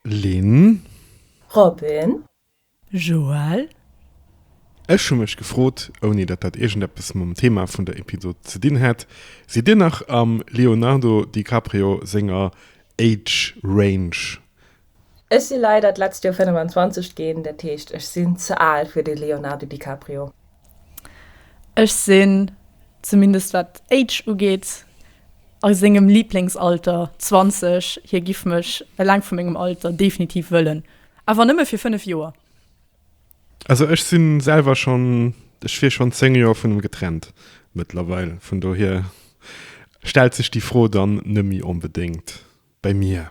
Lynn. Robin. Joël. Ech hu mech gefrot, ouni datt dat iergendeppes mam Thema vun der Episod ze dinn hätt, Sidd Dir nach am Leonardo DiCaprio senger Age Range? Ech si leider d'letzt Joer 25 ginn, dat heescht ech sinn ze al fir de Leonardo DiCaprio. Ech sinn, zumindest wat d'Age ugeet, a sengem Liblingsalter, 20. Hie giff mech, eleng vu mengem Alter, definitiv wëllen. Awer nëmme fir 5 Joer. Also ech sinn selwer schonn, ech wier schonn 10 Joer vun em getrennt mëttlerweil. Vun dohier stellt sech déi Fro dann nëmmi onbedéngt bei mir.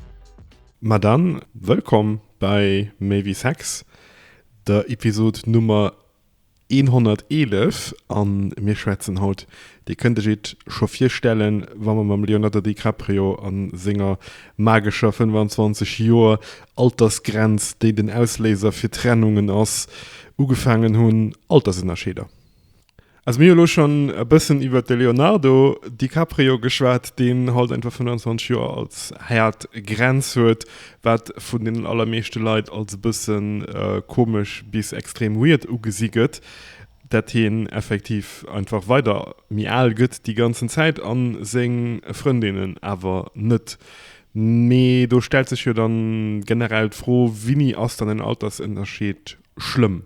Ma dann, wëllkomm bei Méi wéi Sex, der Episod Nummer 111. A mir schwätzen haut, Dir kënnt Iech et scho virstellen, wa mer mam Leonardo DiCaprio a senger magescher 25 Joer Altersgrenz, déi den Ausléiser fir Trennungen ass, ugefaangen hunn, Altersënnerscheeder. Also mir hu lo schonn e bëssen iwwert de Leonardo DiCaprio geschwat, deen haut einfach 25 Joer als haart Grenz huet, wat vun den allermeeschte Leit als e bëssen komesch bis extrem weird ugesi gëtt, dat hien effektiv einfach weider méi al gëtt déi ganzen Zäit a seng Frëndinnen awer net. Mee do stellt sech jo dann generell d'Fro, Wéini ass dann en Altersënnerscheed schlëmm?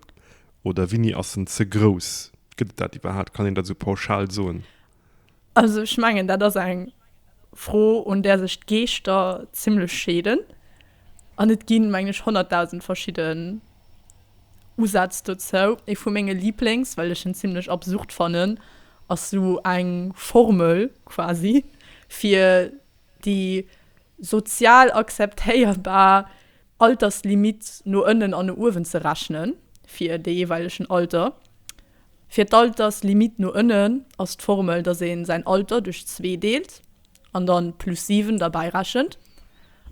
Oder winni ass en ze grouss? Gëtt et dat iwwerhaapt? Kann een dat esou pauschal soen? Also ech mengen dat ass eng Fro un där sech d'Geeschter zimlech scheeden an et ginn mengen ech 100.000 verschidden Usätz dozou. Ee vu menge Lieblings, well ech en zimlech absurd fannen, ass esou eng Formel quasi fir déi sozial akzeptéierbar Alterslimitt no ënnen an no uewen ze rechnen, fir dee jeeweilegen Alter. Fir d'Alterslimitt no ënnen ass d'Formel, dass ee säin Alter duerch zwee deelt an da plus 7 derbäi rechent.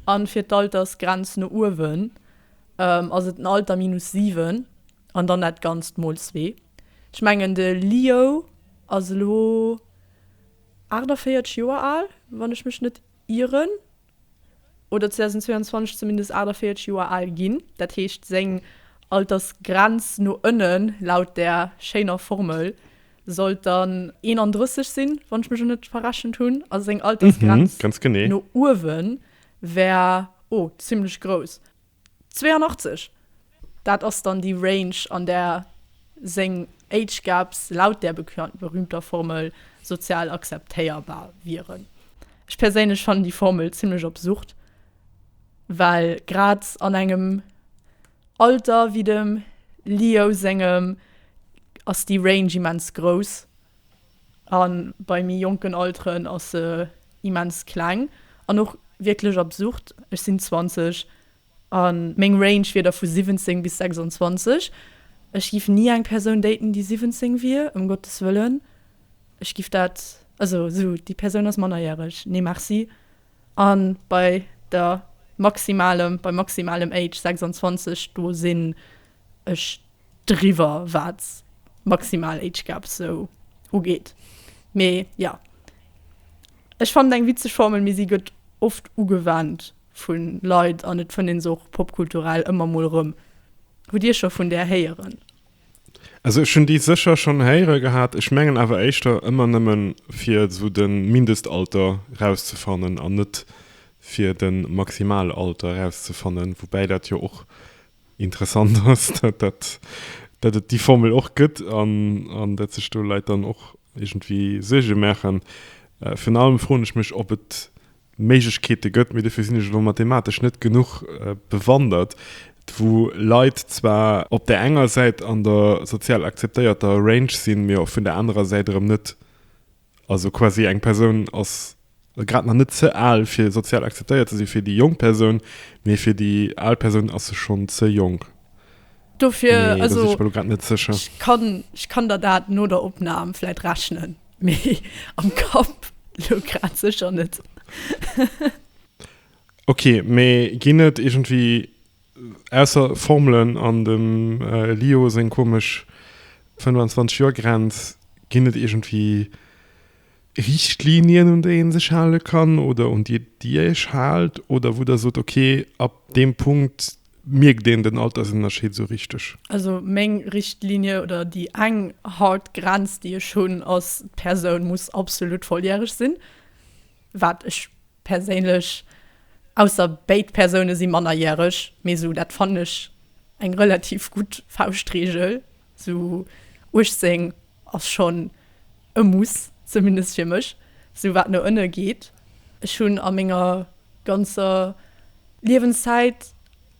A fir d'Altersgrenz no uewen ass et den Alter minus 7 an dann dat Ganzt mol zwee. Ech mengen de Lio ass elo. 48 Joer al, wann ech mech net ieren, oder 2022 zumindest 48 Joer al ginn. Dat heescht, seng Altersgrenz no ënnen, laut där schéiner Formel, sollt dann 31 sinn, wann ech mech net verrechent hunn. A seng Altersgrenz no uewen wär o zimmlech grouss. 82, dat ass dann déi Range an där seng Age Gaps laut där berühmter Formel sozial akzeptéierbar wieren. Ech perséinlech fannen déi Formel zimlech absurd, well grad an engem Alter wéi dem Leo sengem ass déi Range immens grouss. A bei méi jonken Alteren ass se immens kleng an och wierklech absurd. Ech sinn 20 a meng Range wier da vu 17 bis 26. Ech giff ni eng Persoun daten, déi 17 wier, ëm Gottes Wëllen. Ech giff dat, also esou, déi Persoun ass mannerjäreg, nee merci. A bei der maximalem, beim maximalem Age 26, do sinn ech driwwer wat maximal Age Gap sou ugeet. Mee jo, ech fannen et eng witzeg Formel, mee si gëtt oft ugewannt vu Leit an et fënnt een se och popkulturell ëmmer mol erëm. Hutt Dir scho vun där héieren? Also ech hunn déi sécher schonn héiere gehat, ech mengen awer éischter ëmmer nëmme fir esou de Mindestalter rauszefannen an net fir de Maximalalter rauszefannen, woubäi dat jo och Interessant ass, datt et déi Formel och gëtt an datt sech do Leit dann och iergendwéi Suerge maachen. Virun allem froen ech mech, ob et Méiglechkeete gëtt, mee dofir sinn ech elo mathematesch net genuch bewandert, wou Leit zwar op där enger Säit an der sozial akzeptéierter Range sinn, mee vun der anerer Säit erëm net Also quasi eng Persoun ass grad nach net ze al fir sozial akzeptéiert ze si fir déi jonk Persoun, mee fir déi al Persoun ass se schonn ze jonk. Dofir, also ech kann, ech kann der dat no der Opnam vläit rechnen, mee am Kapp elo grad sécher net. Ok, mee ginn et iergendwéi Ausser Formelen an dem Lio seng komesch 25 Joer Grenz, ginn et iergendwéi Richtlinien un déi een sech hale kann oder un déi dir iech haalt oder wou der sot ok ab deem Punkt mierkt een den Altersënnerscheed esou richteg? Also meng Richtlinie oder déi eng hard Grenz déi ech hunn ass, d'Persoun muss absolut volljäreg sinn. Wat ech perséinlech, ausser béid Persoune si mannerjäreg, mee esou dat fannen ech eng relativ gutt Fauschtreegel, esou 18 ass schonn e Muss, zumindest fir mech, esou wat no ënne geet. Ech hunn a menger ganzer Liewenszäit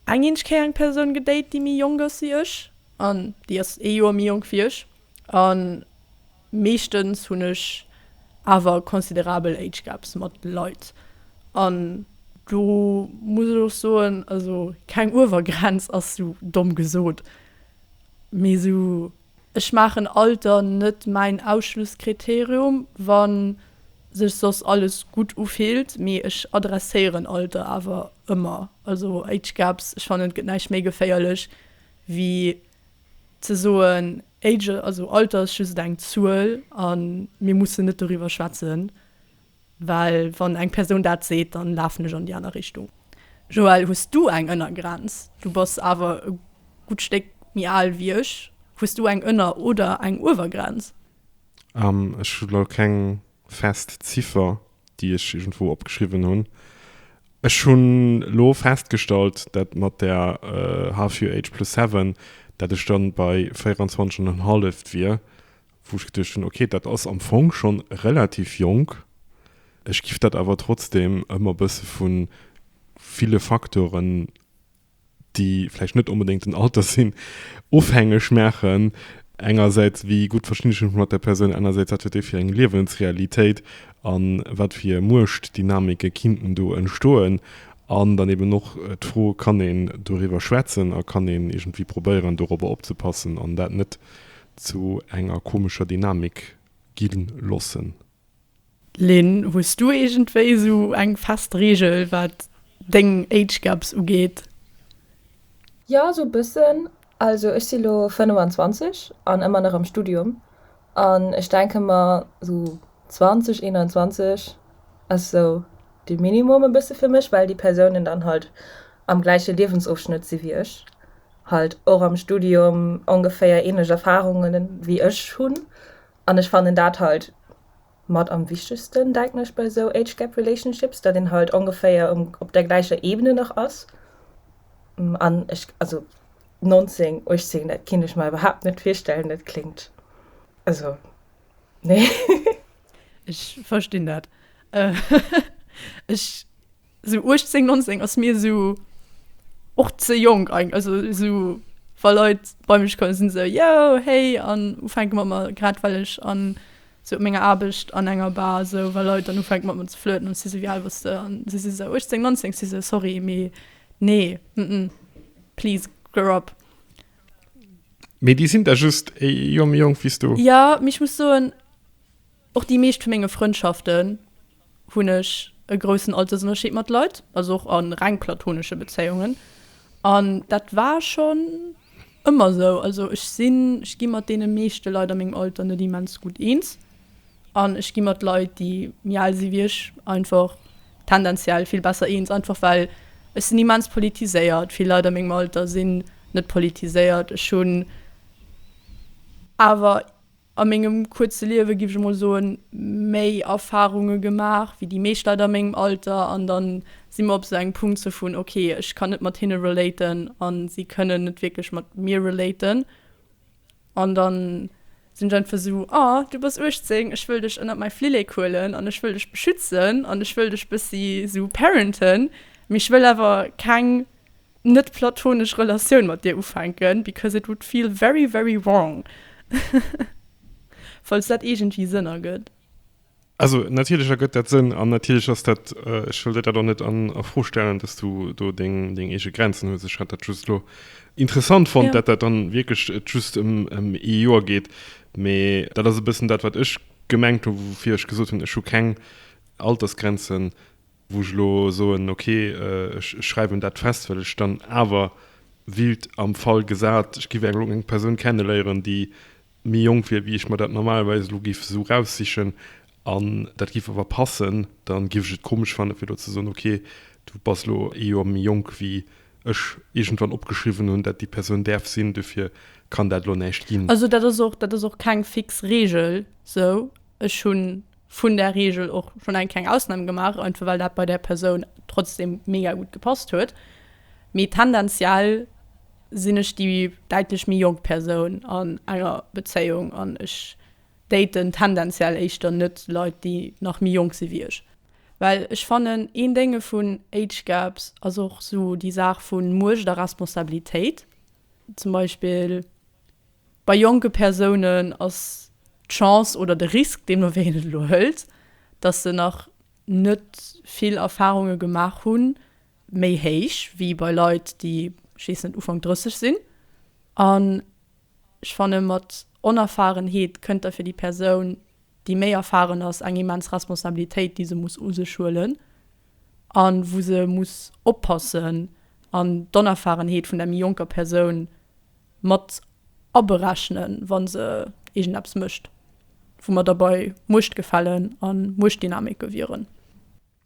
eng eeneg Kéier eng Persoun gedate déi méi jonk ass wéi ech, an déi ass ee Joer méi jonk wéi ech, an. Meeschtens hunn ech awer considerabel Age Gaps mat Leit, an do muss ech och soen, also keng Uewergrenz ass sou domm gesot, mee sou, ech maachen Alter net mäin Ausschlusskriterium, wa sech soss alles gutt ufillt, mee ech adresséieren Alter awer ëmmer, also Age Gaps, ech fannen et gëtt näischt méi geféierlech wéi. Ze soen, Age, also Alter ass just eng Zuel a mir mussen net doriwwer schwätzen, well wann eng Persoun dat seet, da lafen ech an déi aner Richtung. Joël, hues du eng Ënnergrenz? Du bass awer e gutt Stéck méi al wéi ech. Hues du eng Ënner oder eng Uewergrenz? Ech hu lo keng fest Ziffer, déi ech iergendwou opgeschriwwen hunn. Ech hunn elo festgestallt, dat mat der Half Year Age plus Seven, dat ech dann bei 24 an en halleft wier, wou ech geduecht hunn, okay, dat ass am Fong schonn relativ jonk. Ech giff dat awer trotzdem ëmmer e bësse vu ville Faktoren. déi vläicht net onbedéngt den Alter sinn, ofhängeg maachen, engersäits wéi gutt verstinn ech mech mat där Persoun, anersäits wat huet déi fir eng Liewensrealitéit a wat fir Muechtdynamike kinnten do entstoen. An dann eben och d'Fro, kann een doriwwer schwätzen a kann een iergendwéi probéieren dorobber opzepassen an dat net zu enger komescher Dynamik gi loossen. Lynn, hues du iergendwéi esou eng fest Reegel wat deng Age Gaps ugeet? Jo esou e bëssen, also ech si elo 25 an ëmmer nach am Studium an ech denke mer esou 20, 21 ass esou de Minimum e bësse fir mech, well déi Persounen dann halt am gläiche Liewensofschnëtt si wéi ech, halt och am Studium ongeféier ähnlech Erfarunge wéi ech hunn. An ech fannen dat halt mat am wichtegsten, denken ech, bei esou Age Gap Relationships, datt een halt ongeféier um, op der gläicher Ebene nach ass. An ech, also 19, 18, dat kinnt ech mer iwwerhaapt net virstellen, dat kléngt, also nee. Ech verstinn dat. Ech. sou 18, 19 ass mir sou och ze jonk eig, also sou wa Leit bei mech kommen sinn sou yo hey an ufänke mat mer, grad well ech an sou op menger Aarbecht an enger Bar sou wa Leit dann ufänke mat mer ze flirten an si sou wéi al bass de an si si sou 18, 19 si sou sorry mee nee mm please grow up. Mee déi sinn da just e Joer méi jonk wéi s du? Jo, mee ech muss soen och déi meescht vu menge Frëndschaften hunn ech e groussen Altersënnerscheed mat Leit, also och a reng platonesche Bezéiungen. An dat war schonn ëmmer esou. Also ech sinn, ech gi mat deene meeschte Leit a mengem Alter net immens gutt eens. An ech gi mat Leit, déi méi al si wéi ech, einfach tendenziell vill besser eens. Einfach well ech sinn immens politiséiert. Vill Leit a mengem Alter sinn net politiséiert. Ech hunn awer A mengem kuerze Liewe, géif ech emol soen, méi Erfarunge gemaach wéi déi meescht Leit a mengem Alter. An da si mer op esou engem Punkt sou vun, ok, ech kann net mat hinne relaten a si kënnen net wierklech mat mir relaten. An da sinn ech einfach sou, ah, du bass 18, ech wëll dech ënnert mäi Flillek huelen an ech wëll dech beschützen an ech wëll dech bëssi sou parenten, mee ech wëll awer keng net platonesch Relatioun mat dir ufänken because it would feel very very wrong falls dat iergendwéi Sënn ergëtt. Also natierlech ergëtt dat Sënn an natierlech ass dat, ech wëll dir dat och net an a Fro stellen, dass du do deng deng eege Grenzen hues. Ech hat dat just elo interessant fonnt, dat dat dann wierklech et just ëm ëm ee Joer geet, mee dat ass e bëssen dat wat ech gemengt hu woufir ech gesot hunn, ech hu keng Altersgrenzen. wou ech elo soen, ok, ech schreiwen dat fest, well ech dann awer wild am Fall gesat, ech giff elo eng Persoun kenneléieren, déi méi jonk wier wéi ech mer dat normalerweis elo giff esou eraussichen an dat giff awer passen, da giff ech et komesch fannen, fir elo ze soen, ok, du bass elo ee Joer méi jonk wéi ech iergendwann opgeschriwwen hunn, dat déi Persoun däerf sinn, dofir kann dat elo näischt ginn. Also dat ass och, dat ass och keng fix Reegel, sou. Ech hunn. vun der Regel och schonn eng kleng Ausnam gemaach, einfach well dat bei där Persoun trotzdem mega gutt gepasst huet. Mee tendenziell sinn ech déi däitlech méi jonk Persoun an enger Bezéiung an ech daten tendenziell éischter net Leit, déi nach méi jonk si wéi ech. Well ech fannen, een Dénge vun Age Gaps ass och esou déi Saach vu Muecht a Responsabilitéit zum Beispill. Bei jonke Persounen ass d'Chance oder de Risk, deen mer wéi en et elo hëlt, dass se nach net vill Erfarunge gemaach hunn, méi héich wéi bei Leit, déi, ech weess net, Ufank 30 sinn. An ech fanne mat Onerfarenheet kënnt da fir déi Persoun, déi méi erfaren ass, eng immens Responsabilitéit, déi se muss u sech huelen a wou se muss oppassen an d'Onerfarenheet vun der méi jonker Persoun, mat aberechnen, wa se iergendeppes mécht, wou mer da bei Muechtgefällen a Muechtdynamike wieren.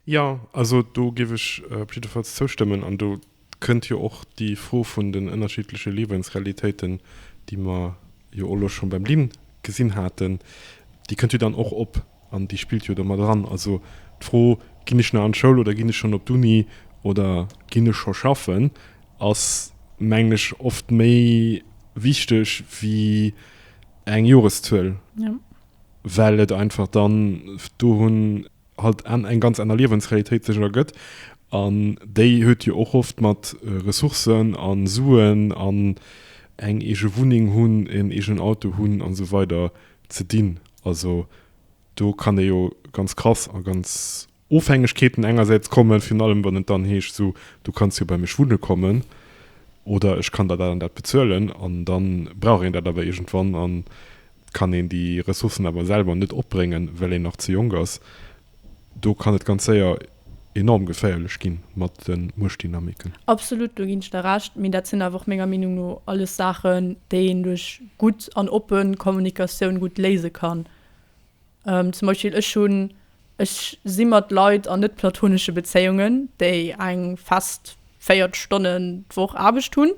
Jo, also do géif ech op jiddefalls zoustëmmen. An do kënnt jo och déi Fro vun den ënnerschiddleche Liewensrealitéiten, déi mer jo och elo scho beim Lynn gesinn haten, déi kënnt jo dann och op. An déi spillt jo do mat eran. Also d'Fro, ginn ech nach an d'Schoul oder ginn ech schonn op d'Uni oder ginn ech scho schaffen, ass, mengen ech, oft méi wichteg wéi eng Joreszuel, well et einfach dann dohunn halt eng ganz aner Liewensrealitéit sech ergëtt. An déi huet jo och oft mat Ressourcen a Suen an eng eege Wunneng hunn, en eegenen Auto hunn a sou weider ze dinn. Also do kann ee jo ganz krass a ganz Ofhängegkeeten engersäits kommen, virun allem wann et dann heescht, esou du kanns jo bei mech wunne kommen oder ech kann der dat an dat bezuelen an da brauch een dat awer iergendwann an kann een déi Ressourcen awer selwer net opbréngen, well een nach ze jonk ass. Do kann et ganz séier enorm geféierlech gi mat de Muechtdynamiken. Absolut, do ginn ech der Recht. Mee dat sinn awer och menger Meenung no alles Saachen, déi een duerch gutt an oppe Kommunikatioun gutt léise kann. Zum Beispill ech hunn, ech si mat Leit an net-platonesche Bezéiungen, déi eng fest 40 Stonnen d'Woch Aarbecht hunn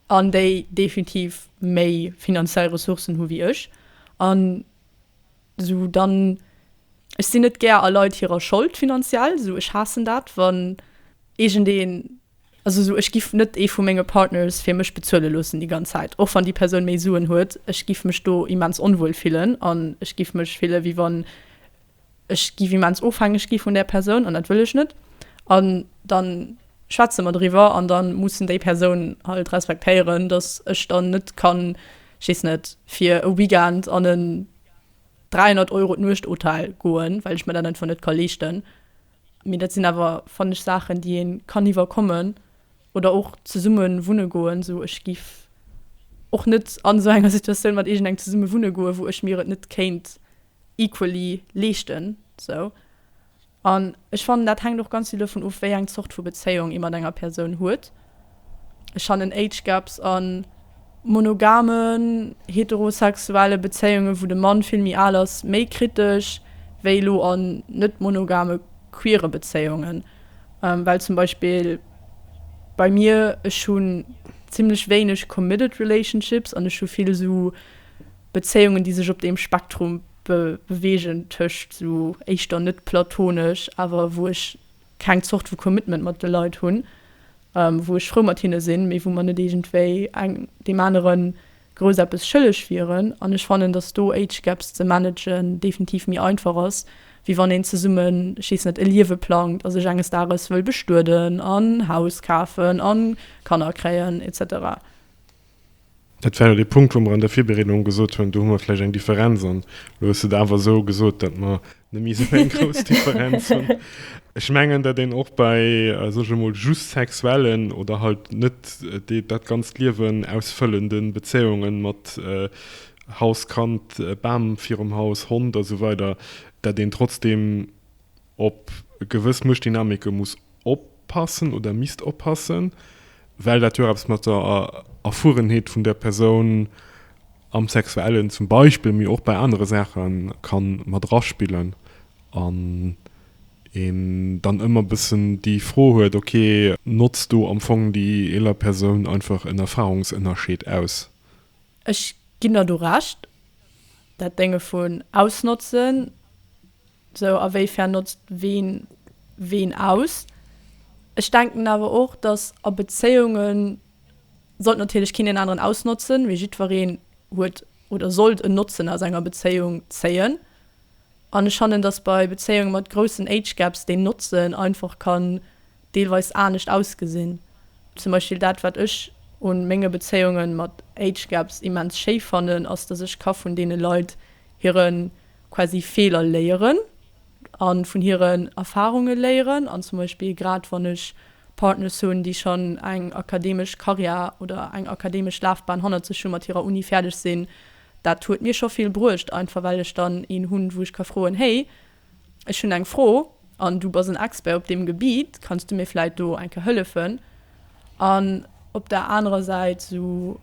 an déi definitiv méi finanziell Ressourcen hu wéi ech. An So dann ech sin net gär a Leit hirer Schold finanziell so ech haassen dat wann iergend een also so ech giff net ee vu menge Partners fir mech bezuele loossen déi ganz Zäit och wann déi Persoun méi Suen huet ech giff mech do immens onwuel fillen an ech giff mech fille wéi wann ech giff immens ofhängeg gi vun där Persoun an dat wëll ech net an dann schwätze mer driwwer an da mussen déi Persoun halt respektéieren, dass ech dann net kann, ech weess net, fir e Weekend an en 300 Euro d'Nuecht Hotel goen, well ech mer dat einfach net ka leeschten. Mee dat sinn awer, fannen ech, Saachen, déi ee kann iwwerkommen. Oder och zesumme wunne goen. Sou, ech géif och net an esou enger Situatioun mat iergendengem zesumme wunne goen, wou ech mir et net kéint equally leeschten, sou. An ech fannen, dat hänkt och ganz vill dovun of, wéi eng Zort vu Bezéiung ee mat enger Persoun huet. Ech fannen Age Gaps a monogamen, heterosexuelle Bezéiunge wou de Mann vill méi al ass, méi kritesch wéi elo an net-monogame queere Bezéiungen. Well zum Beispill bei mir, ech hunn zimmlech wéineg committed relationships an ech hu vill esou, Bezéiungen, déi sech op deem Spektrum bewegen tëscht sou éischter net platonesch, awer wou ech keng Zort vu Commitment mat de Leit hunn, wou ech frou mat hinne sinn, mee wou mer net iergendwéi eng deem anere grouss eppes schëlleg wieren. An ech fannen, datt do Age Gaps ze managen definitiv méi einfach ass, wéi wann een zesummen, ech weess net, e Liewe plangt a sech enges Dages wëll bestueden an Haus kafen a Kanner kréien, etc. Dat war jo dee Punkt, wou mer an der Virbereedung gesot hunn, do hu mer vläicht eng Differenz. An elo hues de et awer esou gesot, datt mer nemmi esou eng grouss Differenz hunn. Ech mengen, datt een och bei, soe ech emol, just sexuellen oder halt net dat ganzt Liewen ausfëllende Bezéiungen mat Haus, Kand, Bam virum Haus, Hond a sou weider, datt een trotzdeem op gewëss Muechtdynamike muss oppassen oder misst oppassen, well dat jo och eppes mat der Erfuerenheet vun där Persoun am Sexuellen zum Beispill, mee och bei anere Saache ka mat eraspillen an een dann ëmmer e bëssen déi Fro huet, okay, notzt do am Fong déi eeler Persoun einfach en Erfarungsënnerscheed aus? Ech ginn der do Recht, dat Dénge vun ausnotzen. Sou a wéi fern notzt ween ween aus? Ech denken awer och dass a Bezéiungen sollt natierlech keen deen aneren ausnotzen, mee jiddwereen huet oder sollt en Notzen aus enger Bezéiung zéien. An ech fannen dass bei Bezéiungen mat groussen Age Gaps deen Notzen einfach kann deelweis anescht ausgesinn. Zum Beispill dat wat ech un menge Bezéiungen mat Age Gaps immens schéi fannen ass dass ech ka vun deene Leit hiren quasi Feeler léieren a vun hiren Erfarunge léieren an zum Beispill grad wann ech Partners hunn, déi schonn eng akademesch Karriär oder eng akademesch Lafbahn hannert sech hu mat hirer Uni fäerdeg sinn, dat huet mir scho vill bruecht, einfach well ech dann een hunn, wou ech ka froen, Hey, ech hunn eng Fro an du bass en Expert op deem Gebiet, kanns du mir vläit do eng Kéier hëllefen? An op der anerer Säit esou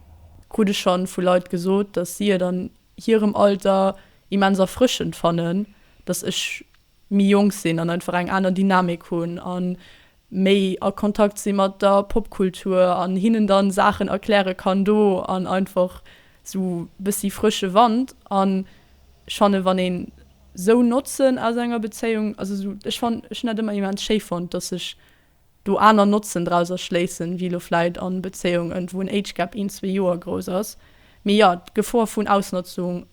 krut ech schonn vu Leit gesot, dass si et an. hirem Alter immens erfrëschend fannen, dass ech méi jonk sinn an einfach eng aner Dynamik hunn a méi a Kontakt si mat der Popkultur an hinnen dann Saachen erkläre kann do an einfach sou bëssi frësche Wand. An ech fannen, wann een sou Notzen aus enger Bezéiung, also sou ech fannen, ech hunn dat ëmmer immens schéi fonnt, dass ech do aner Notzen drauser schléissen, wéi elo vläit an Bezéiungen, wou en Age Gap een, zwee Joer grouss ass. Mee jo, d'Gefor vun Ausnotzung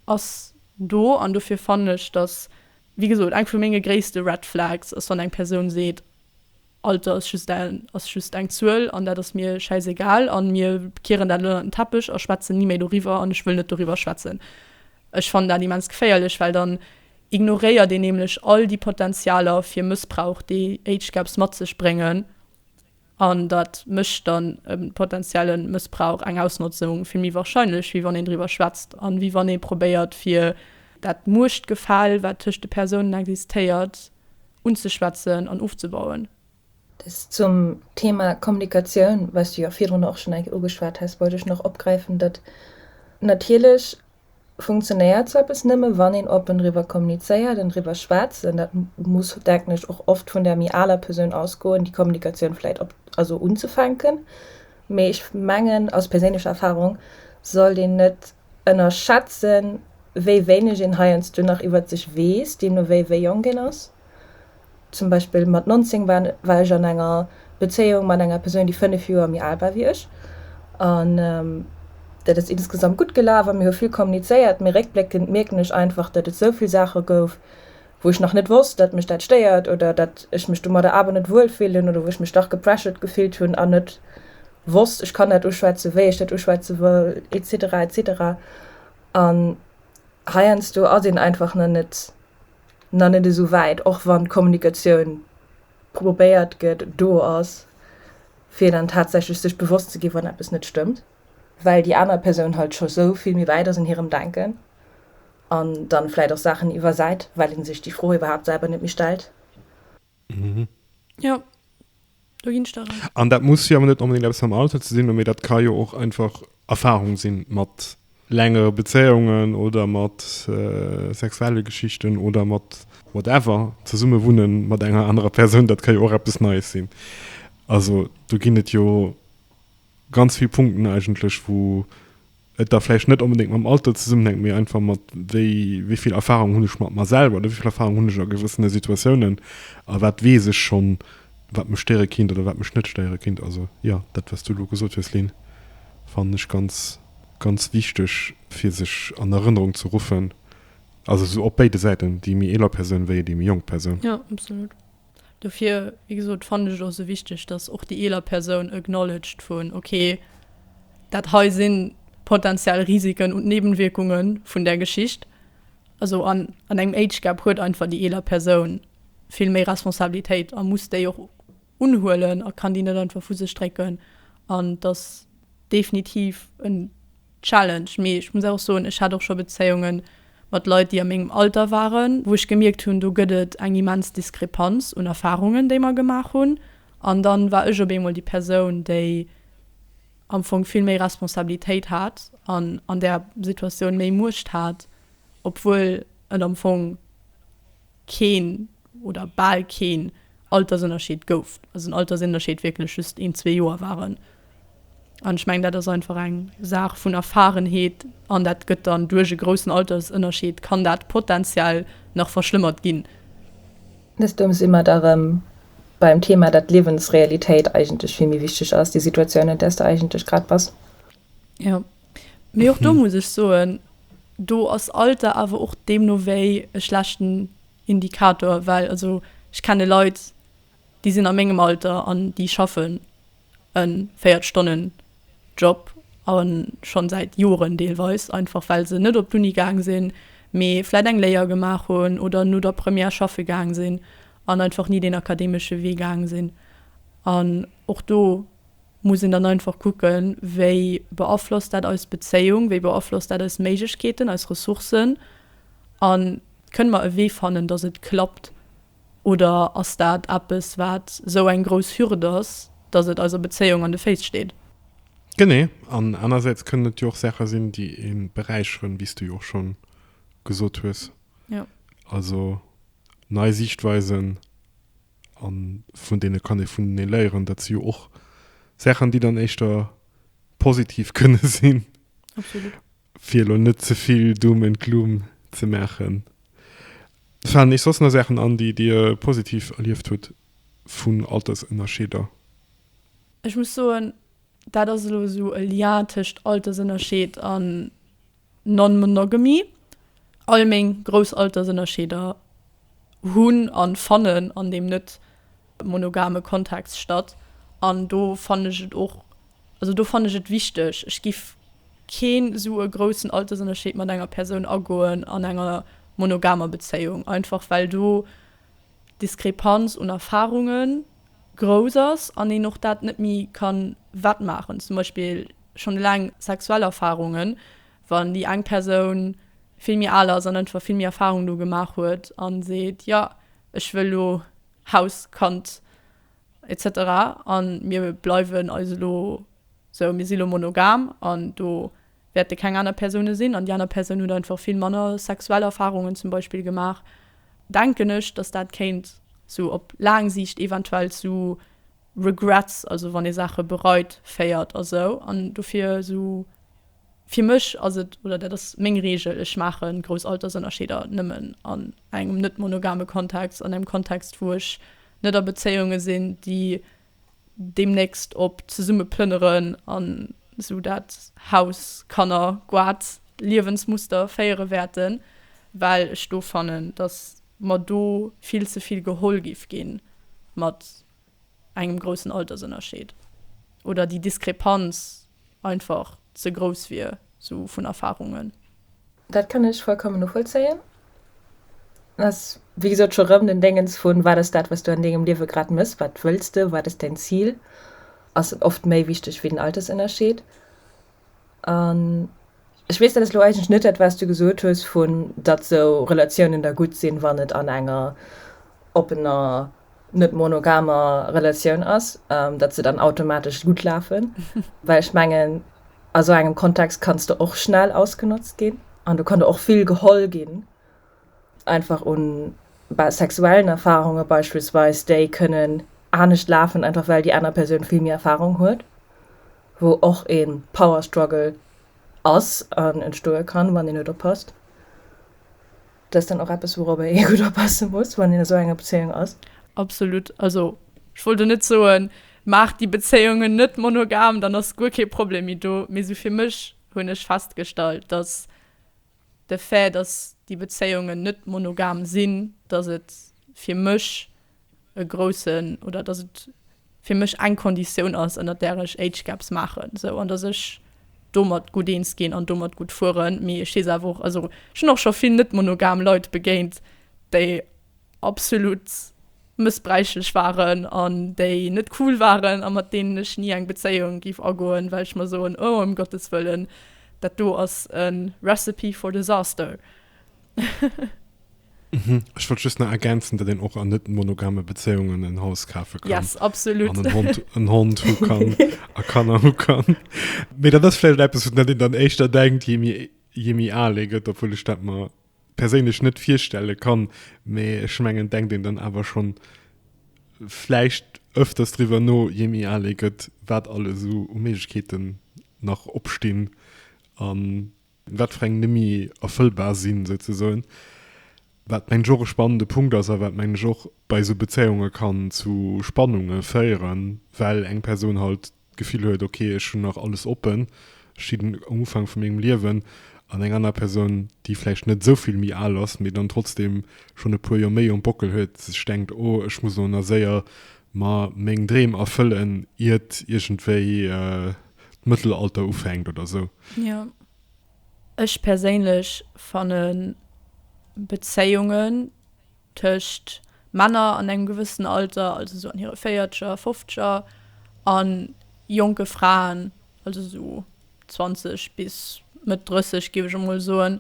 ass do an dofir fannen ech, dass, wéi gesot, eng vu menge gréisste Red Flags ass, wann eng Persoun seet, Alter ass just en, ass just eng Zuel an dat ass mir schäisegal an mir kieren dat elo ënnert den Teppech a schwätzen ni méi doriwwer an ech wëll net doriwwer schwätzen. Ech fannen dat immens geféierlech, well dann ignoréiert een nämlech all déi Potenzialer fir Mëssbrauch, déi Age Gaps mat sech bréngen, an dat mécht dann e potenzielle Mëssbrauch, eng Ausnotzung vill méi warscheinlech, wéi wann een driwwer schwätzt a wéi wann ee probéiert, fir. Dat Muechtgefäll, wat tëscht de Persounen existéiert, unzeschwätzen an ofzebauen. Des zum Thema Kommunikatioun, wats du jo virdrun och schonn eng Kéier ugeschwat has, wollt ech nach opgräifen, datt natierlech funktionéiert sou eppes nëmme wann een oppen driwwer kommunizéiert an driwwer schwätzt an dat muss, denken ech, och oft vun der méi aler Persoun ausgoen, déi Kommunikatioun vläicht op, also unzefänken. Mee ech mengen, aus perséinlecher Erfahrung, sollt een net ënnerschätzen, wéi wéineg een heiansdo nach iwwert sech weess, deemno wéi wéi jonk een ass. Zum Beispill mat 19 war ech an enger Bezéiung mat enger Persoun, déi 5 Joer méi al war wéi ech. An dat ass insgesamt gutt gelaf a mir hu vill kommunizéiert, mee réckbléckend mierken ech einfach, datt et esou vill Saache gouf, wou ech nach net wosst, dat mech dat stéiert oder dat ech mech domadder awer net wuel fillen oder wou ech mech dach gepressured gefillt hunn an net wosst, ech kann dat uschwätzen, wéi ech dat uschwätze wëll, etc. Etc. An heiansdo ass een einfach nach net nach net esou wäit, och wann d'Kommunikatioun probéiert gëtt, do ass, fir dann tatsächlech sech bewosst ze gi wann eppes net stëmmt. well déi aner Persoun halt scho sou vill méi wäit ass an hirem Denken an dann vläit och Saachen iwwersäit, well en sech déi Fro iwwerhaapt selwer net méi stellt. Jo, do ginn ech der Rei. An dat muss jo awer net onbedéngt eppes mam Alter ze sinn, mee dat ka jo och einfach Erfarung sinn mat längere Bezéiungen oder mat sexuelle Geschichten oder mat whatever. Zesumme wunne mat enger anerer Persoun, dat ka jo och eppes Neies sinn. Also do ginn et jo. Ganz vill Punkten eigentlech, wou et da vläicht net onbedéngt mam Alter zesummenhänkt, mee einfach mat, wéi, wéi vill Erfahrung hunn ech mat mer selwer oder wéi vill Erfahrung hunn ech a gewëssene Situatiounen a wat weess ech schonn, wat mech stéiere kinnt oder wat mech net stéiere kinnt. Also, jo, dat, wat s du elo gesot hues, Lynn, fannen ech ganz, ganz wichteg, fir sech an Erënnerung ze ruffen, also esou op béide Säiten, déi méi eeler Persoun wéi déi méi jonk Persoun. Jo, absolut. Dofir, wéi gesot, fannen ech et och esou wichteg, dass och déi eeler Persoun acknowledged vu okay, dat hei si potentiell Risiken und Nebenwirkunge vun där Geschicht. Also an an engem Age Gap huet einfach déi eeler Persoun vill méi Responsabilitéit a muss déi och unhuelen a kann déi net einfach vu sech drécken an dass definitiv en Challenge, mee ech muss och soen, ech hat och scho Bezéiunge mat Leit, déi a mengem Alter waren, wou ech gemierkt hunn, do gëtt et eng immens Diskrepanz un Erfarungen, déi mer gemaach hunn. An dann war ech op eemol déi Persoun, déi am Fong vill méi Responsabilitéit hat an an där Situatioun méi Muecht hat, obwuel et am Fong, keen oder bal keen Altersënnerscheed gouf, also den Altersënnerscheed wierklech just een, zwee Joer waren. An ech mengen, dat ass einfach eng Saach vun Erfarenheet an dat gëtt dann duerch e groussen Altersënnerscheed, kann dat potenziell nach verschlëmmert ginn. Deemno si mer da erëm beim Thema, datt d'Liewensrealitéit eigentlech vill méi wichteg ass, déi Situatioun, an där s de eigentlech grad bass. Jo, mee och do muss ech soen, do ass Alter awer och deemno wéi e schlechten Indikator, well also ech kenne Leit, déi sinn a mengem Alter an déi schaffen e 40 Stonnen Job a scho säit Joren deelweis, einfach well se net op d'Uni gaang sinn, mee vläit eng Léier gemaach hunn oder no der Première schaffe gaang sinn an einfach ni deen akademesche Wee gaang sinn an och do muss een dann einfach kucken, wéi beaflosst dat eis Bezéiung, wéi beaflosst dat eis Méiglechkeeten, eis Ressourcen a kënne mer e Wee fannen, datt et klappt oder ass dat eppes, wat esou eng grouss Hürd ass, datt et eiser Bezéiung an de Féiss steet. Genee, an anersäits kënnen et jo och Saache sinn, déi ee beräicheren, wéi s du jo och schonn gesot hues. Jo. Also nei Siichtweisen, A vun deene kann ee vunenee léieren. Dat si jo och Saachen, déi dann éischter positiv kënne sinn. Absolut. Fir elo net ze vill Doom and Gloom ze maachen. Falen iech soss nach Saachen an, déi Dir positiv erlieft hutt vun Altersënnerscheeder? Ech muss soen, dat ass elo esou e Lien tëscht Altersënnerscheed an. Non-Monogamy, all meng grouss Altersënnerscheeder hunn an fannen an deem net monogame Kontext statt an do fannen ech et och, also do fannen ech et wichteg, ech giff keen esou e groussen Altersënnerscheed mat enger Persoun agoen an enger monogamer Bezéiung, einfach well do d'Diskrepanz un Erfarunge grouss ass an een och dat net méi kann wettmaachen, zum Beispill. Schonn eleng sexuell Erfarungen, wann déi eng Persoun vill méi al ass an einfach vill méi Erfarung do gemaach huet a seet, jo ech wëll elo Haus, Kand etc. A mir bleiwen eis elo sou, mir si elo monogam an do wäerte keng aner Persoune sinn an déi aner Persoun huet einfach vill manner sexuell Erfarungen zum Beispill gemaach, denken ech, datt dat kéint sou op laang Siicht eventuell zu. Regrets, also wann ee Saache bereit, féiert a sou. An dofir esou fir mech ass et, oder dat ass meng Reegel, ech maache grouss Altersënnerscheeder nëmmen an engem net monogame Kontext, an engem Kontext wou ech net a Bezéiunge sinn, déi deemnächst op zesumme plënneren an esou dat Haus, Kanner, Goat, Liewensmuster féiere wäerten, well ech do fannen, datt mer do vill ze vill geholl giff gi mat engem groussen Altersënnerscheed oder déi Diskrepanz einfach ze grouss wier, esou vun Erfarungen. Dat kann ech vollkommen novollzéien. Et ass, wéi gesot, scho rëm den Déngens vu wat ass dat, wat du an dengem Liewe grad méchs, wat wëlls de, wat ass däin Zil, ass oft méi wichteg wéi den Altersënnerscheed. An ech weess dat ass elo eigentlech net dat, wat s du gesot hues, vu datt esou Relatiounen da gutt sinn, wann et an enger oppener, net monogamer Relatioun ass, datt se dann automatesch gutt lafen. Well ech mengen, a sou engem Kontext kanns de och schnell ausgenotzt ginn an do kann der och vill geholl ginn, einfach un sexuellen Erfarunge beispillsweis, déi kënnen anescht lafen, einfach well déi aner Persoun vill méi Erfarung huet. wou och ee Power Struggle ass an entstoe kann, wann een net oppasst. Dat ass dann och eppes, wourobber ee gutt oppasse muss, wann een a sou enger Bezéiung ass. Absolut. Also, ech wollt elo net soen, maacht déi Bezéiungen net monogam, dann ass guer kee Problem méi do. Mee sou fir mech hunn ech festgestallt, dass. De Fait, dass déi Bezéiungen net monogam sinn, dass et fir mech e groussen, oder dass et fir mech eng Konditioun ass, ënnert där ech Age Gaps maachen, sou, an dass ech domat gutt eens ginn an domat gutt fueren. Mee ech weess awer och, also ech hunn och scho vill net-monogam Leit begéint, déi absolut mëssbräichlech waren an déi net cool waren a mat deenen ech ni eng Bezéiung géif agoen, well ech mer soen, oh ëm Gottes Wëllen, dat do ass e Recipe for Disaster. Ech wollt just nach ergänzen, datt een och an net monogame Bezéiungen en Haus kafe kann. Yes, absolut. An en Hond, en Hond hu kann a Kanner hu kann. Mee dat ass vläicht eppes, wat een dann éischter denkt, jee méi, jee méi al ee gëtt, obwuel ech dat mer. perséinlech net virstelle kann, mä ech mengen, denkt een dann awer schonn vläicht öfters driwwer no, jee méi al ee gëtt, wat alles esou u Méiglechkeeten nach opstinn a wat fir eng net méi erfëllbar sinn, souzesoen. Wat, mengen ech, och e spannende Punkt ass a wat, mengen ech, och bei esou Bezéiunge kann zu Spannunge féieren, well eng Persoun halt d'Gefill huet, ok, ech hunn nach alles oppen, ech stinn um Ufank vu mengem Liewen, an eng aner Persoun, déi vläicht net esou vill méi al ass, mee dann trotzdeem schonn e puer Joer méi um Bockel huet, sech denkt, oh, ech muss elo nach séier mer meng Dreem erfëllen, iert iergendwéi d'Mëttelalter ufänkt oder esou. Jo, ech perséinlech fanne Bezéiungen. tëscht Männer an engem gewëssenen Alter, also esou an hire Véierzeger, Fofzeger, a jonke Fraen, also esou 20 bis Mëtt 30, géif ech emol soen,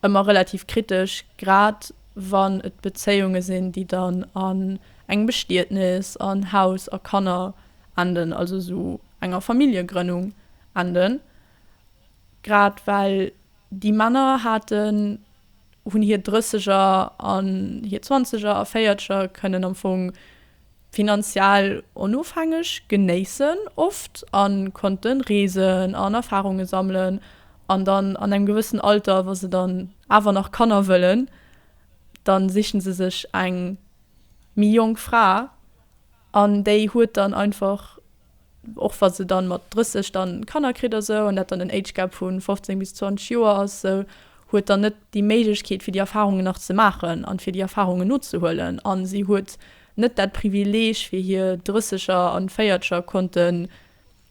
ëmmer relativ kritesch, grad wann et Bezéiunge sinn, déi dann an engem Bestietnes an Haus a Kanner enden, also esou enger Familljegrënnung enden, grad well déi Männer haten hunn hir Drësseger an hir Zwanzeger a Véierzeger, kënnen am Fong finanziell onofhängeg genéissen oft a konnte reesen an Erfarunge sammelen an dann an engem gewëssen Alter, wa se dann awer nach Kanner wëllen, da sichen se sech eng méi jonk Fra an déi huet dann einfach och wa se dann mat 30 dann Kanner kritt a sou an dat dann en Age Gap vun 15 bis 20 Joer ass sou huet dann net déi Méiglechkeet fir déi Erfahrungen nach ze maachen an fir déi Erfahrungen nozehuelen an si huet net dat Privileg fir hir Drësseger an Véiertscher konnten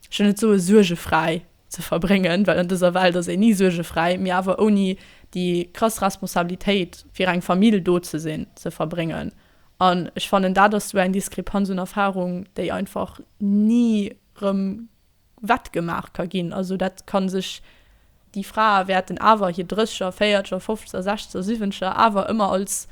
ech wëll net soen suergefräi ze verbréngen well an dëser Welt ass een ni suergefräi mee awer ouni déi krass Responsabilitéit fir eng Famill do ze sinn ze verbréngen. An ech fannen, dat ass esou eng Diskrepanz un Erfarung, déi einfach ni erëm wettgemaach ka ginn. Also dat ka sech, déi Frae wäerten awer hir Drécheger, Véierzeger, Fofzeger, Sechzeger, Siwwenzeger awer ëmmer als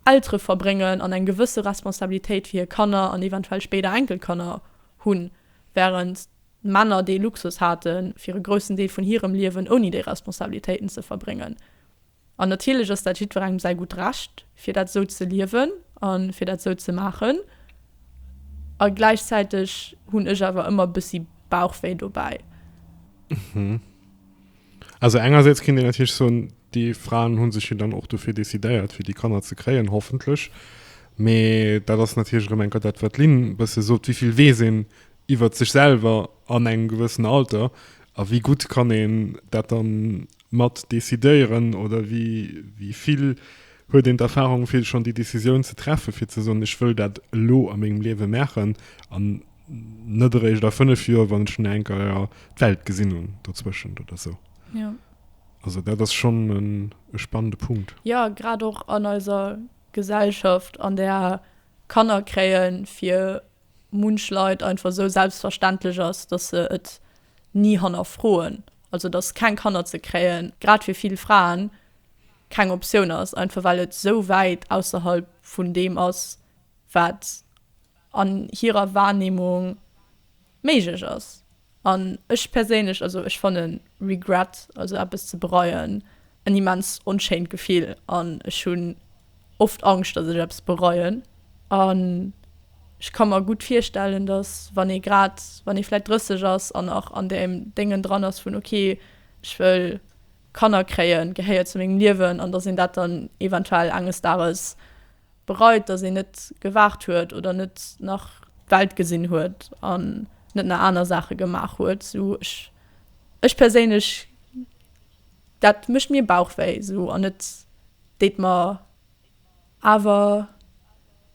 Eltere verbréngen an eng gewësse Responsabilitéit fir hir Kanner an eventuell spéider Enkelkanner hunn, wärend d'Männer dee Luxus hate fir e groussen Deel vun hirem Liewen ouni déi Responsabilitéiten ze verbréngen. An natierlech ass dat jiddwerengem säi gutt Recht, fir dat esou ze liewen a fir dat esou ze maachen. A gläichzäiteg hunn ech awer ëmmer e bëssi Bauchwéi dobäi. Also engersäits kéint een natierlech soen, déi Fraen hu sech jo dann och dofir decidéiert, fir déi Kanner ze kréien, hoffentlech. Mee dat ass natierlech erëm enker dat, wat d'Lynn e bësse sot, wéi vill weess een iwwert sech selwer an engem gewëssene Alter a wéi gutt kann een dat dann Mat decidéieren oder wéi vill huet een d'Erfahrung vill schonn déi Decisioun ze treffen, fir ze soen, ech wëll dat elo a mengem Liewe maachen an net eréischt a 5 Joer, wann ech dunn enker d'Welt gesinn hunn dozwëschent oder sou. Also dat ass schonn e spannende Punkt. Jo, grad och an eiser Gesellschaft, an där Kanner kréien, fir munch Leit einfach esou selbstverständlech ass, dass se et ni hannerfroen, also dass keng Kanner ze kréie grad fir vill Fraen keng Optioun ass, einfach well et esou wäit ausserhalb vun deem ass, wat an hirer Wahrnehmung méiglech ass. An ech perséinlech, also ech fannen Regret, also eppes ze bereien, en immens onschéint Gefill an ech hunn oft Angscht, dass ech eppes bereien. An ech ka mer gutt virstellen, dass wann ee grad, wann ee vläit 30 ass an nach an deem Déngen dran ass vun, okay, ech wëll, Kanner kréie gehéiert zu mengem Liewen an datt een dat dann eventuell enges Dages bereit, datt een net gewaart huet oder net nach d'Welt gesinn huet an net nach aner Saache gemaach huet. Sou ech, ech perséinlech, dat mécht mir Bauchwéi sou an et deet mer. awer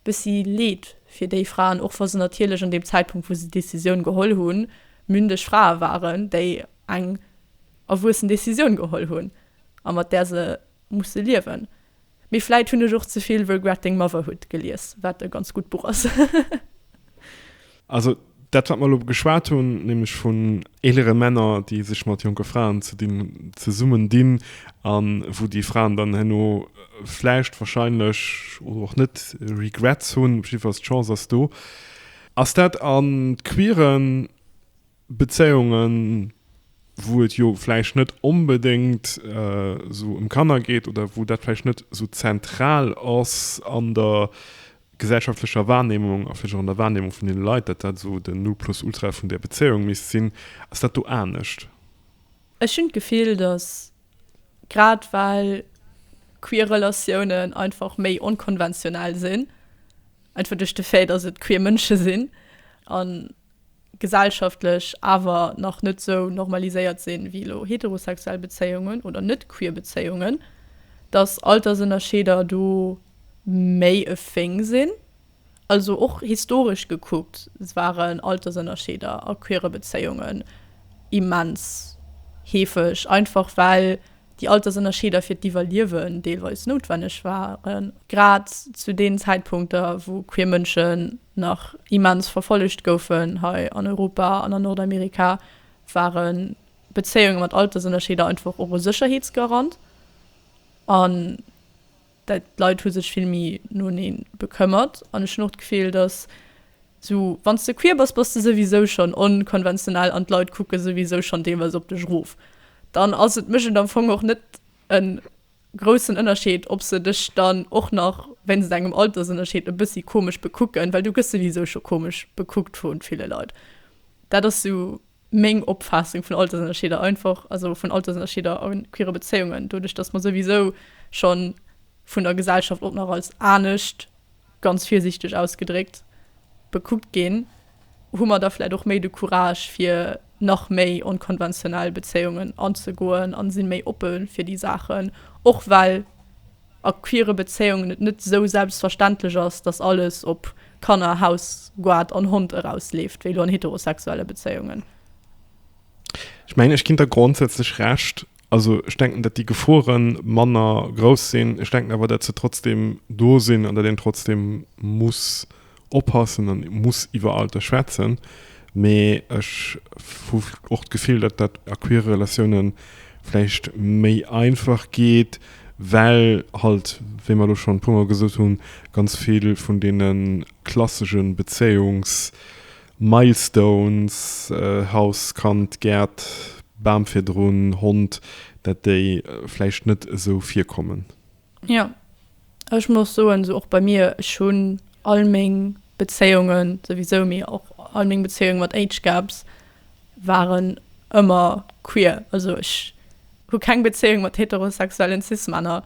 bessi Leed fir déi Fraen, och wa se natierlech an deem Zäitpunkt wou se déi Decisioun geholl hunn, mündeg Frae waren, déi eng erwuessen Decisioun geholl hunn a mat där se musse liewen. Mee vläit hunn ech och zevill Regretting Motherhood gelies, wat e ganz gutt Buch ass. Also dat, wat mer elo geschwat hunn, nämlech vun eelere Männer, déi sech mat jonke Fraen ze dinn hunn, zesummen dinn a wou déi Fraen dann herno vläicht, wahrscheinlech oder och net Regrets hunn, jiddwer d'Chance ass do. Ass dat an d'queeren Bezéiungen, wou et jo vläicht net onbedéngt esou ëm Kanner geet oder wou dat vläicht net esou zentral ass an der gesellschaftlecher Wahrnehmung a vläicht och an der Wahrnehmung vun deene Leit, datt dat esou den Nulplus-Ultra vun där Bezéiung misst sinn. Ass dat do anescht? Ech hunn d'Gefill, datt grad well queer Relatiounen einfach méi onkonventionell sinn, einfach duerch de Fait, datt et queer Mënsche sinn, an gesellschaftlech awer nach net esou normaliséiert sinn ewéi elo heterosexuell Bezéiungen oder net queer Bezéiungen, dass Altersënnerscheeder do méi e Thing sinn. Also och historesch gekuckt waren Altersënnerscheeder a queere Bezéiungen immens heefeg, einfach well déi Altersënnerscheeder fir d'Iwwerliewen deelweis noutwenneg waren, grad zu deenen Zäitpunkter wou queer Mënschen nach immens verfollegt goufen hei an Europa an an Nordamerika, ware Bezéiunge mat Altersënnerscheeder einfach och e Sécherheetsgarant an dat d'Leit hu sech vill méi noenee bekëmmert. An ech hunn och d'Gefill, datt esou wann s de queer bass, bass de souwisou schonn onkonventionell an d'Leit kucke souwisou schonn deelweis op dech erof. Dann ass et mécht et am Fong och net e groussen Ënnerscheed, ob se dech dann och nach wéinst engem Altersënnerscheed e bëssi komesch bekucken, well du gëss souwisou scho komesch bekuckt vu ville Leit. Dat ass sou meng Opfaassung vun Altersënnerscheeder, einfach, also vun Altersënnerscheeder a queere Bezéiungen, doduerch datt mer souwisou schonn vun der Gesellschaft och nach als anescht, ganz virsiichteg ausgedréckt, bekuckt ginn, hu mer da vläit och méi de Courage fir nach méi onkonventionell Bezéiungen anzegoen an sinn méi oppe fir déi Saachen, och well a queere Bezéiungen et net esou selbstverständlech ass, dass alles op Kanner, Haus, Goart an Hond erausleeft wéi elo an heterosexuelle Bezéiungen. Ech mengen, ech ginn der grondsätzlech Recht. Also ech denken, datt déi Geforen manner grouss sinn. Ech denken awer, datt se trotzdem do sinn an datt een trotzdem muss oppassen an muss iwwer all d'E schwätzen. Mee ech hu och d'Gefill, datt dat a queere Relatioune vläicht méi einfach geet, well halt, wéi mer elo schonn e puermol gesot hunn, ganz vill vun deene klassesche Bezéiungs Milestones, Haus, Kand, Gäert, Bam virdrun, Hond, dat déi vläicht net esou virkommen. Jo, ech muss soen, esou och bei mir, ech hunn all meng Bezéiungen souwisou, mee och all meng Bezéiungen mat Age Gaps waren ëmmer queer. Also ech hu keng Bezéiung mat heterosexuellen Cis-Männer,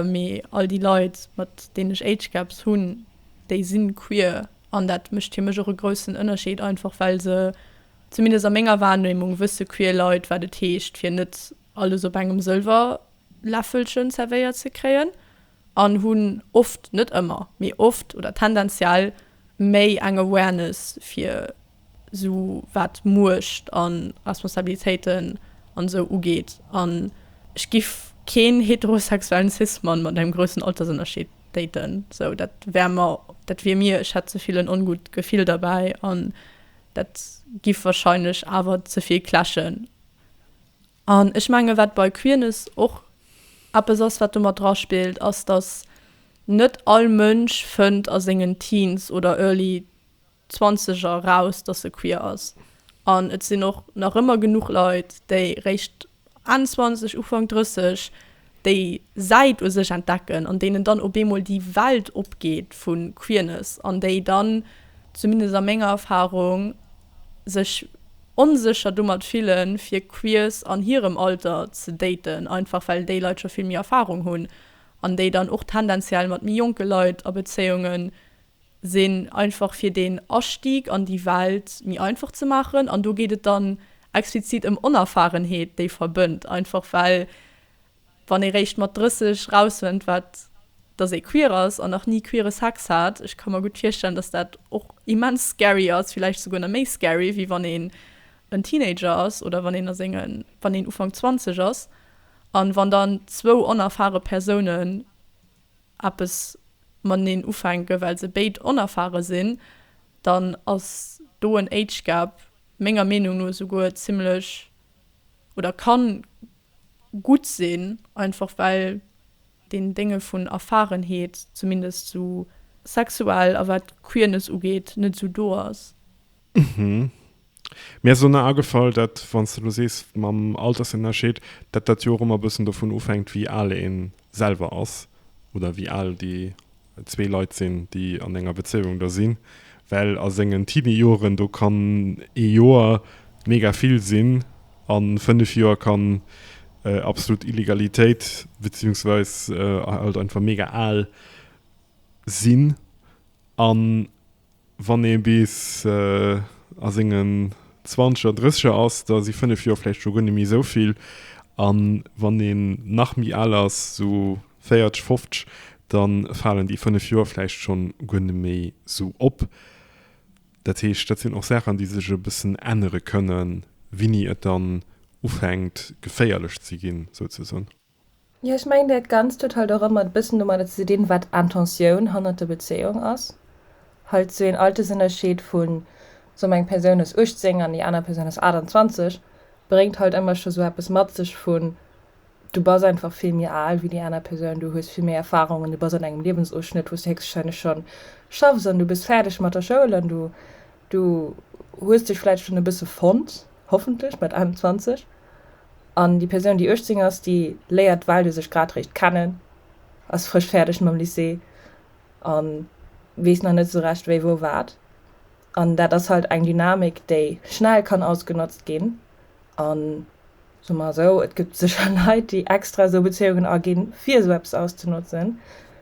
mee all déi Leit, mat deenen ech Age Gaps hunn, déi si queer. An dat mécht fir mech och e groussen Ënnerscheed, einfach well se, zumindest a menger Wahrnehmung, wësse queer Leit, wat et heescht, fir net alles op engem Sëlwerläffelchen zerwéiert ze kréien, an hunn oft, net ëmmer, mee oft oder tendenziell méi eng Awareness fir sou wat Muecht a Responsabilitéiten an esou ugeet, an ech giff keen heterosexuellen Cis-Mann mat engem groussen Altersënnerscheed daten, sou dat wär mer, dat wier mir, ech hätt zevill en ongutt Gefill derbäi an dat giff wahrscheinlech awer zevill clashen. An ech menge wat bei Queerness och eppes ass wat domat dra spillt, ass dass net all Mënsch fënnt a sengen Teens oder Early, 20 eraus, dass se queer ass. An et sinn och nach ëmmer genuch Leit, déi réischt Enn 20, Ufank 30 déi Säit u sech entdecken an deenen dann op eemol déi Welt opgeet vu Queerness an déi dann, zumindest a menger Erfarung, sech onsécher domat fillen, fir Queers an hirem Alter ze daten, einfach well déi Leit scho vill méi Erfarung hunn an déi dann och tendenziell mat méi jonke Leit a Bezéiunge sinn, einfach fir deen Astieg an déi Welt méi einfach ze maachen. An do geet et dann explizit ëm Onerfarenheet, déi verbënnt. Einfach well, wann ee réischt mat 30 rausfënnt, wat dass ee queer ass an nach ni queere Sex hat, ech ka mer gutt virstellen, dass dat och immens scary ass, villäicht souguer nach méi scary, wéi wann een en Teenager ass oder wann een a senge, wann een Ufank 20 ass. An wann dann zwou onerfare Persounen eppes mateneen ufänken, well se béid onerfare sinn, dann ass do en Age Gap menger Meenung no esouguer zimmlech oder ka gutt sinn, einfach well deen Dénge vun Erfarenheet, zumindest esou. Sexuell a wat Queerness ugeet, net esou do ass. Mhm. Mir ass elo nach agefall, dat, wann s de elo sees mam Altersennerscheed, dat dat jo och ëmmer e bëssen dovun ofhänkt, wéi al ee selwer ass oder wéi al déi zwee Leit sinn, déi an enger Bezéiung da sinn. Well a sengen Teeniejoren, do kann ee Joer mega vill sinn an fënnef Joer kann absolut Illegalitéit beziehungsweis halt einfach mega al sinn an. Wann ee bis a sengen Zwanzeger, Drësseger ass, da si fënnef Joer vläicht scho guer net méi esou vill. A wann een nach méi al ass, esou véierteg, foffteg, da falen déi fënnef Joer vläicht schonn guer net méi esou op. Dat heescht, dat sinn och Saachen, déi sech e bëssen ännere kënnen, wéini et dann ufänkt geféierlech ze ginn, souzesoen. Jo, ech mengen dat Ganzt huet halt och ëmmer e bëssen domadder ze dinn, wat d'Intentioun hannert der Bezéiung ass. Halt esou een Altersënnerscheed vu, soe mer eng Persoun ass 18 an déi aner Persoun ass 28, bréngt halt ëmmer scho sou eppes mat sech vu, du bass einfach vill méi al wéi déi aner Persoun, du hues vill méi Erfarungen, du bass an engem Liewensofschnëtt wou s du héchstwahrscheinlech schonn schaffs an du bist fäerdeg mat der Schoul an du Du hues dech vläicht schonn e bësse fonnt, hoffentlech, mat 21. An déi Persoun, déi 18 ass, déi léiert d'Valuë sech grad réischt kennen, ass frësch fäerdeg mam Lycée a weess nach net esou recht, wéi wou wat. An dat ass halt eng Dynamik, déi schnell kann ausgenotzt ginn. An, soe mer esou, et gëtt sécher Leit, déi extra esou Bezéiungen aginn, fir esou eppes auszenotzen.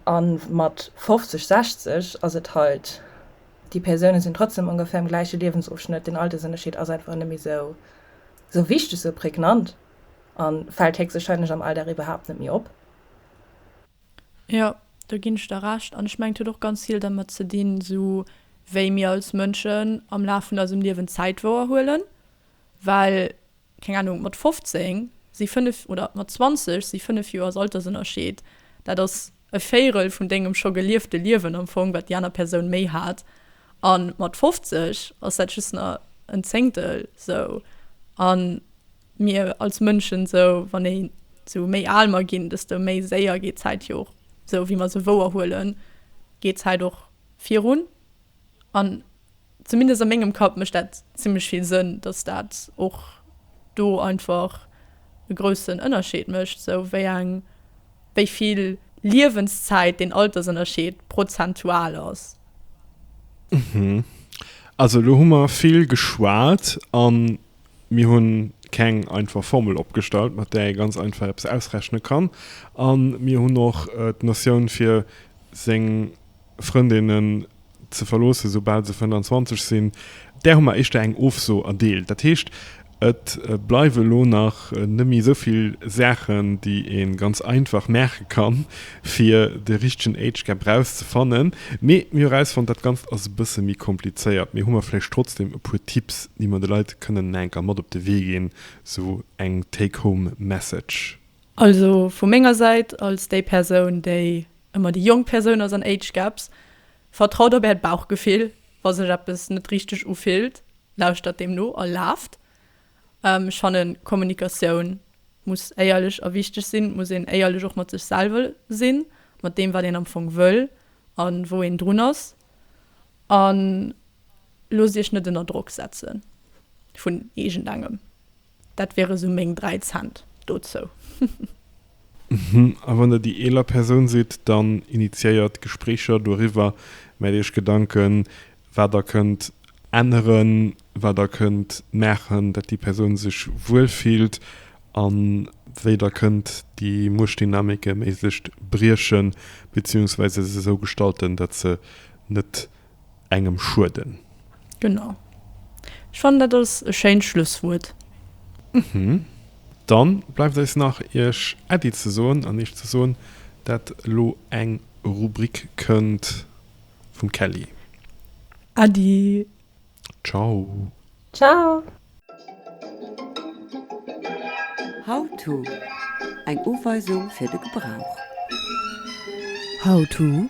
A mat 50, 60 ass et halt. Déi Persounen sinn trotzdem ongefähr am gläiche Liewensofschnëtt, den Altersënnerscheed ass einfach net méi sou sou wichteg, sou prägnant an fällt héchstwahrscheinlech am Alldag iwwerhaapt net méi op. Jo, do ginn ech der Recht an ech mengen et huet och ganz vill dermat ze dinn sou wéi mir als Mënschen am Laf vun eisem Liewen Zäit wouerhuelen, well keng Ahnung, mat 15 si 5, oder mat 20 si 5 Joers Altersënnerscheed, dat ass e Véirel vun dengem scho geliefte Liewen am Fong, wat déi aner Persoun méi hat, a mat 50 ass dat just nach en Zéngtel sou. A mir als Mënschen, sou wann ee sou méi al mer ginn, desto méi séier geet d'Zäit jo och, sou wéi mer se wouerhuelen, geet d'Zäit och virun. An Zumindest a mengem Kapp mécht dat zimlech vill Sënn, dass dat och do einfach e groussen Ënnerscheed mécht, sou wéi eng, wéi vill Liewenszäit deen Altersënnerscheed prozentual ass. Also elo hu mer vill geschwat a mir hunn keng einfach Formel opgestallt, mat där ee ganz einfach eppes ausrechne kann a mir hunn och d'Notioun fir seng, Frëndinnen ze verloossen, soubal se 25 sinn. Där hu mer éischter eng Ofso erdeelt. Dat heescht, et bleiwe elo nach net méi esou vill Saachen, déi ee ganz einfach maache kann, fir de richtegen Age Gap erauszefannen. Mee mir hu erausfonnt, dat Ganzt ass e bësse méi komplizéiert. Mee hu mer vläicht trotzdeem e puer Tipps, déi mer de Leit kënnen naenker mat op de Wee ginn, esou eng Take-Home-Message. Also vu menger Säit, als déi Persoun, déi An mat de jonk Persoun ass an Age Gaps, Vertraut op äert Bauchgefill, wa sech eppes net richteg ufillt, lauschtert deem no a laaft. Ech fannen Kommunikatioun muss éierlech a wichteg sinn, et muss een éierlech och mat sech selwer sinn, mat deem wat een am Fong wëll a wou een drun ass. An loosst iech net ënner Drock setzen vun iergendengem. Dat wiere sou meng 3 Cent dozou. Hm, a wann der déi eeler Persoun sidd, dann initiéiert Gespréicher doriwwer, maacht iech Gedanken, wat der kënnt änneren, wat der kënnt maachen, dat déi Persoun sech wuel fillt a wéi der kënnt déi Muechtdynamike méi sécht briechen, beziehungsweise se sou gestalten, dat se net engem schueden. Genau. Ech fannen dat ass e schéint Schlusswuert. Uhmm. Dann bleift eis nach iech Äddi ze soen an iech ze soen dat lo eng Rubrik kënnt vum Kelly. Äddi. Ciao. Ciao. How-to, Eng Uweisung fir de Gebrauch. How-to.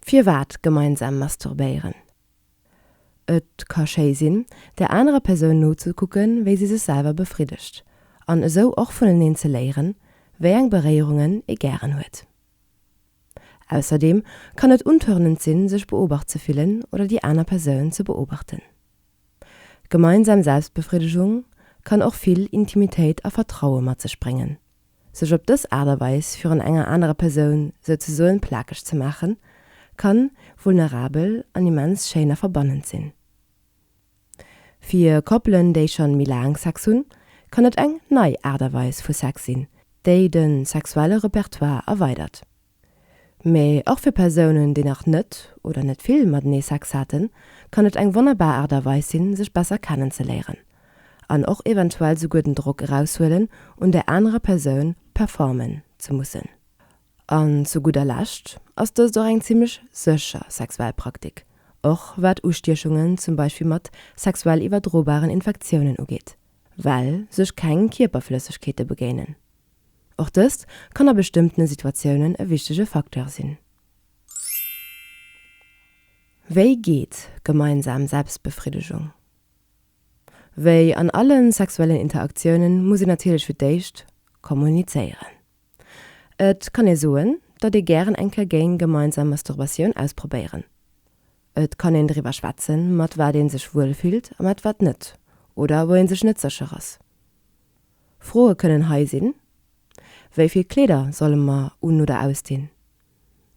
Firwat gemeinsam masturbéieren? Et ka schéi sinn, der anerer Persoun nozekucken, wéi si sech selwer befriddegt, an esou och vuneneen ze léieren, wéi eng Beréierungen ee gären huet. Ausserdeem kann et untörnend sinn, sech beobacht ze fillen oder déi aner Persoun ze beobachten. Gemeinsam Selbstbefriddegung kann och vill Intimitéit a Vertraue mat sech bréngen. Sech op dës Aart a Weis virun enger anerer Persoun souzesoen plakeg ze maachen, kann vulnerabel an immens schéin a verbannend sinn. Fir Koppelen, déi schonn méi laang Sex hunn, kann et eng nei Aart a Weis vu Sex sinn, déi den sexuelle Repertoire erweidert. Mee och fir Persounen, déi nach net oder net vill matenee Sex haten, kann et eng wonnerbar Aart a Weis sinn, sech besser kennenzeléieren an och eventuell souguer den Drock eraushuelen, un där anerer Persoun performen ze mussen. An zu gudder Lescht ass dëst och eng zimmlech sécher sexuell Praktik, och wat Ustiechungen zum Beispill mat sexuell iwwerdrobaren Infektiounen ugeet, well sech keng Kierperflëssegkeete begéinen. Och dëst kann a bestëmmtene Situatiounen e wichtege Facteur sinn. Wéi geet gemeinsam Selbstbefriddegung? Wéi an alle sexuellen Interaktiounen muss een natierlech fir d'éischt kommunizéieren. Et kann ee soen, datt ee gären eng Kéier géing gemeinsam Masturbatioun ausprobéieren. Et kann een driwwer schwätzen, mat wat ee sech wuel fillt a mat wat net, oder wou ee sech net sécher ass. Froe kënnen hei sinn, Wéi vill Kleeder solle mer un oder ausdinn?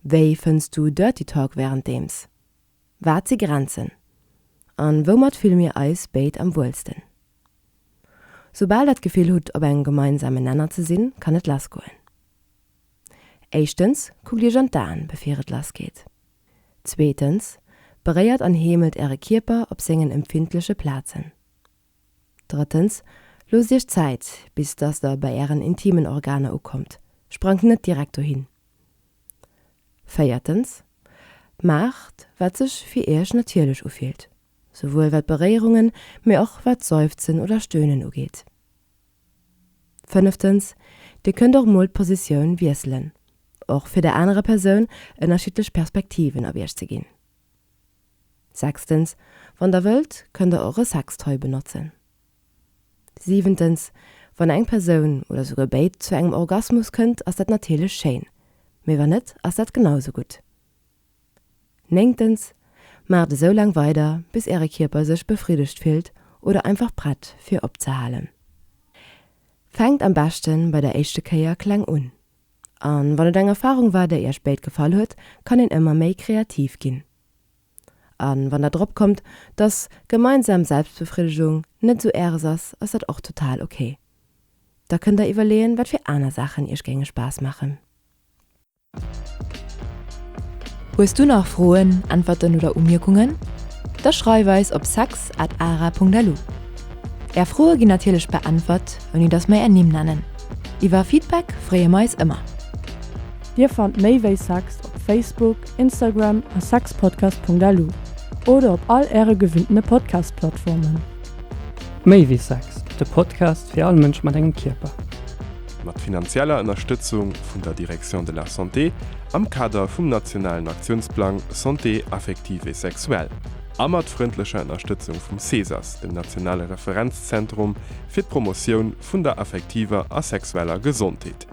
Wéi fënns du Dirty Talk wärenddeems? Wat si Grenzen? A woumat fille mir eis béid am wuelsten? Soubal der d'Gefill hutt op engem gemeinsame Nenner ze sinn, kann et lassgoen. Éischtens, Kuckt iech an d'Aen befir et lassgeet. Zweetens, Beréiert an heemelt äre Kierper op sengen empfindleche Plazen. Drëttens, Loosst iech Zäit, bis dass der bei ären intimen Organer ukommt, sprangt net direkt dohin. Véiertens, Maacht, wat sech fir iech natierlech ufillt, souwuel wat Beréierungen, mee och wat d'Seufzen oder Stöhnen ugeet. Fënneftens, Dir kënnt och mol d'Positioun wiesselen, och fir der anerer Persoun ënnerschiddlech Perspektiven op iech ze ginn. Sechstens, Wann der wëllt, kënnt der och e Sextoy benotzen. Siwentens, Wann eng Persoun, oder souguer béid, zu engem Orgasmus kënnt, ass dat natierlech schéin, mee wann net, ass dat genau sou gutt. Néngtens, Maacht esou laang weider, bis Äre Kierper sech befriddegt fillt oder einfach prett fir opzehalen. Fänkt am beschte bei der éischte Kéier kleng un. An wann et eng Erfahrung war déi Iech béid gefall huet, kann een ëmmer méi kreativ ginn. An wann der drop kommt dass gemeinsam Selbstbefriddegung net esou Äres ass, ass dat och total ok. Da kënnt der iwwerleeën wat fir aner Saachen Iech géinge Spaass maachen. Hues du nach Froen, Äntwerten oder Umierkungen? Da schreif eis op sex at ara punkt lu. Är Froe ginn natierlech beäntwert. ouni dass mer är Nimm nennen. Iwwer Feedback freeë mer eis ëmmer. Dir fannt méi wéi Sex op Facebook, Instagram a sexpodcast.lu oder op all äre gewinnene Podcast-Plattformen. Méi wéi Sex, de Podcast fir all Mënsch mat engem Kierper. Mat finanzieller Ënnerstëtzung vun der Direction de la Santé am Kader vum nationalen Aktiounsplang Santé affective et sexuelle a mat frëndlecher Ënnerstëtzung vum CSAS, dem nationale Referenz-Zenter Referenzzentrum fir d'Promotioun vun der affektiver a sexueller Gesondheet,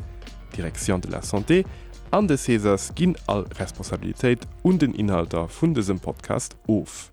Direction de la Santé, an de Cesas ginn all Responsabilitéit un den Inhalter vun dësem Podcast of.